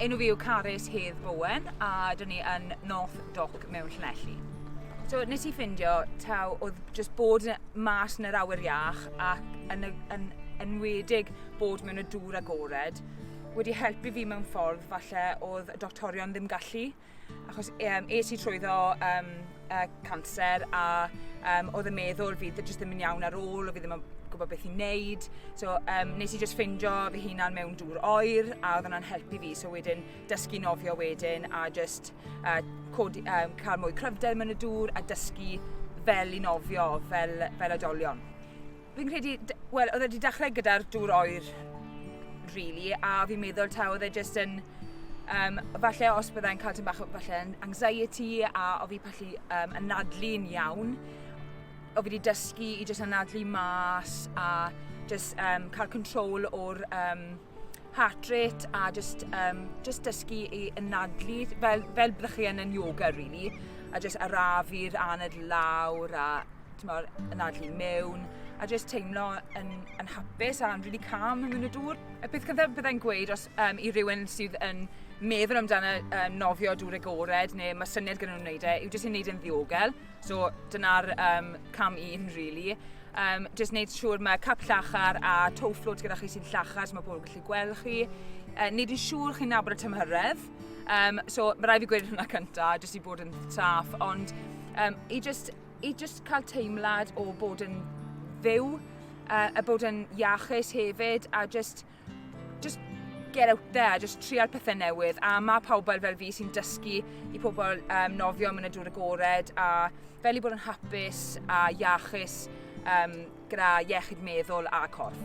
Enw fi yw Carys Hedd Bowen a dyn ni yn North Dock mewn Llanelli. So nes i ffindio taw oedd jyst bod mas yn yr awyr iach ac yn, y, yn enwedig bod mewn y dŵr agored wedi helpu fi mewn ffordd falle oedd y doctorion ddim gallu. Achos um, es i trwyddo um, uh, cancer a um, oedd y meddwl fi jyst ddim yn iawn ar ôl, o fi ddim yn gwybod beth i'n neud. So um, nes i just ffindio fy hunan mewn dŵr oer a oedd yna'n helpu fi. So wedyn dysgu nofio wedyn a just uh, codi, um, cael mwy cryfder mewn y dŵr a dysgu fel i nofio fel, fel adolion. Fi'n credu, wel, oedd e wedi dechrau gyda'r dŵr oer, really, a fi'n meddwl ta oedd e jyst yn, um, falle os byddai'n cael tyn bach o falle anxiety a o fi pallu um, anadlu'n iawn, o fi wedi dysgu i jyst anadlu mas a jyst um, cael control o'r um, heart rate a just, um, just dysgu i ynadlu fel, fel byddwch chi yn yn yoga really a just arafu'r aned lawr a tymor, ynadlu mewn a just teimlo yn, yn hapus a'n really calm yn mynd y dŵr. Y peth cyntaf byddai'n gweud os um, i rywun sydd yn meddwl amdano um, nofio dŵr agored neu mae syniad gyda nhw'n wneud e yw jyst i'n wneud yn ddiogel So dyna'r um, cam un, really. Um, just wneud siŵr mae cap llachar a toe float gyda chi sy'n llachar, so mae pobl yn gallu gweld chi. Uh, wneud yn siŵr chi'n nabod y tymhyredd. Um, so mae rai fi gweud hwnna cynta, jyst i bod yn saff, ond um, i, just, i just cael teimlad o bod yn fyw, uh, a bod yn iachus hefyd, a just Just get out there, just trial pethau newydd. A mae pobl fel fi sy'n dysgu i pobl um, nofio yn y dŵr agored a fel i bod yn hapus a iachus um, gyda iechyd meddwl a corff.